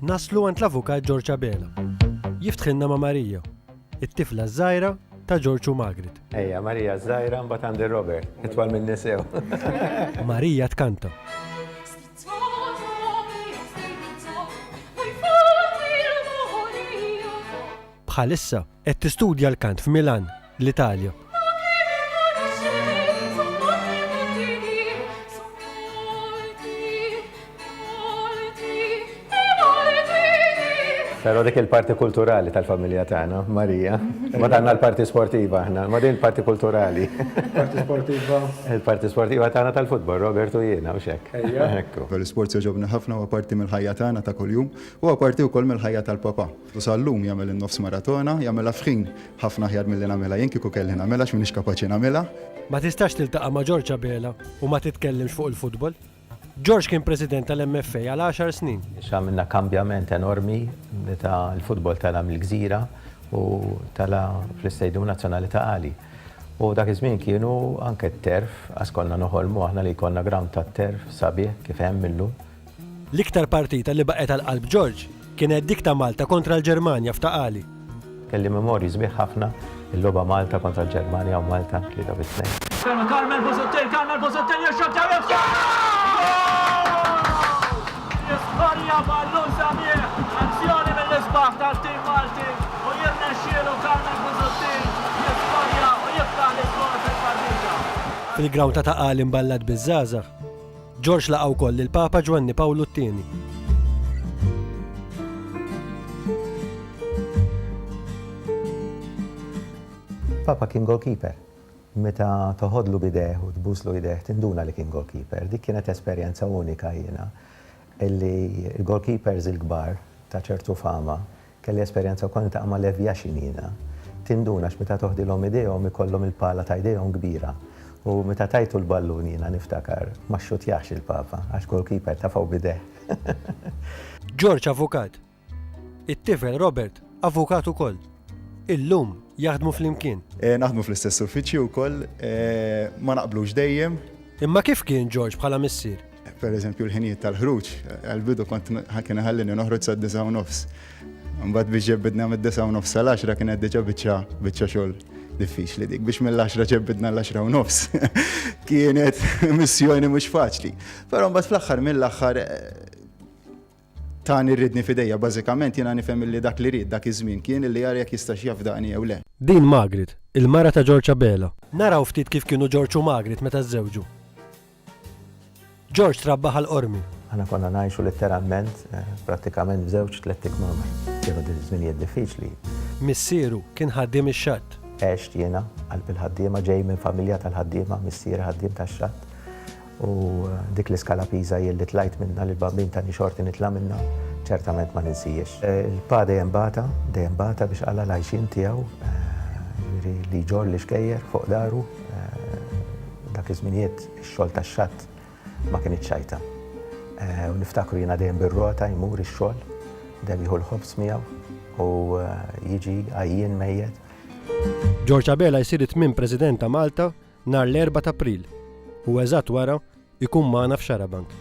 Naslu għand l-Avukat George Abela. Jiftħilna ma' Marija, it-tifla ż-żgħira ta' George u Margaret. Ejja, Marija ż-żgħira mbagħad għandi Robert, itwal minni sew. Marija tkanta. Bħalissa qed tistudja l-kant f'Milan l-Italja. Però dik il-parti kulturali tal-familja tagħna, Marija. Ma tagħna l-parti sportiva aħna, ma din il-parti kulturali. Parti sportiva. Il-parti sportiva tagħna tal-futbol, Robert u jiena u xek. Ejja. Ekku. L-isport joġobni ħafna u parti mill-ħajja tagħna ta' kuljum u parti wkoll mill-ħajja tal-papa. U sal-lum jagħmel in-nofs maratona, jagħmilha f'ħin ħafna aħjar milli nagħmilha jien, kieku kelli nagħmilha għax m'iniex kapaċi nagħmilha. Ma tistax tiltaqa' ma' George Abela u ma titkellimx fuq il-futbol. George kien President tal-MFA għal għaxar snin. Għamilna kambjament enormi meta l-futbol tela' mill-Gżira u tela' fl-Istadium Nazzjonali ta' Qali. U dak iż-żmien kienu anke t-turf, għax konna noħolmu aħna li jkollna ground tat-turf sabiħ kif hemm illum. L-iktar partita li baqgħet għal qalb George kienet dik ta' Malta kontra l-Ġermanja f'Ta' Qali. Kelli memorji sbieħ ħafna, il-logħba Malta kontra l-Ġermanja u Malta tlieta bi tnejn. Ferma Carmel Busuttil, Carmel Busuttil jirxotta u jibda! Jiskorja ballun sabiħ, azzjoni mill-isbaħ tal-tim Malti u jirnexxielu Carmel Busuttil jiskorja u jiftaħ l-iskor fil-partita. Fil-ground ta' Ta' Qali mballat biż-żgħażagħ. George laqa' wkoll lill-Papa Ġwanni Pawlu t-Tieni. Papa kien goalkeeper. Meta toħodlu bidejh u tbuslu idejh tinduna li kien goalkeeper. Dik kienet esperjenza unika jiena illi l-goalkeepers il-kbar ta' ċertu fama Kelli esperjenza wkoll niltaqa' ma' Lev Yashin jiena. Tinduna għax meta toħdilhom idejhom ikollhom il-pala ta' idejhom kbira. U meta tajtu l-ballun jiena niftakar ma xxutjax il-Papa għax goalkeeper tafgħu b'idejh. George avukat. It-tifel Robert avukat ukoll. Illum jaħdmu flimkien. Naħdmu fl-istess uffiċċju wkoll. Ma naqblux dejjem. Imma kif kien George bħala missier? Per eżempju l-ħinijiet tal-ħruġ, għal-bidu kont kien ħallini noħroġ sa' disa' u nofs. Mbagħad biex ġebbidna mid-disa' u nofs sal-10 kienet diġà biċċa biċċa xogħol diffiċli dik biex mill-10 ġebbidna l-10 u nofs. Kienet missjoni mhux faċli. Però mbagħad fl-aħħar mill-aħħar tani rridni fidejja bażikament jiena nifhem li dak li ried dak iż-żmien kien li jara jekk jistax jafdaqni jew le. Din Margaret, il-mara ta' George Abela. Naraw ftit kif kienu George u Margaret meta żżewġu. George trabba Ħal Qormi. Aħna konna ngħixu litteralment, prattikament f'żewġ tlett ikmamar. Kienu dim żminijiet diffiċli. Missieru kien ħaddiem ix-xatt. Għext jiena qalb il-ħaddiema, ġej minn familja tal-ħaddiema, missieri ħaddiem tax-xatt. U dik l-iskala piża jien li tlajt minnha, li l-bambin tani xorti nitla' minnha, ċertament ma ninsihiex. Il-pa dejjem bata, dejjem bata biex qala' l-għajxien tiegħu, jiġifieri li jġorr l-ixkejjer fuq dahru. Dak iż-żminijiet ix-xogħol tax-xatt ma kien iċ-ċajta. U niftakru jiena dejjem bir-rota jmur ix-xogħol, dejjem jieħu l-ħobż miegħu u jiġi għajjien mejjet. George Abela jsir it-tmien President ta' Malta nhar l-Erbgħa t'April u eżatt wara jkun magħna f'Xarabank.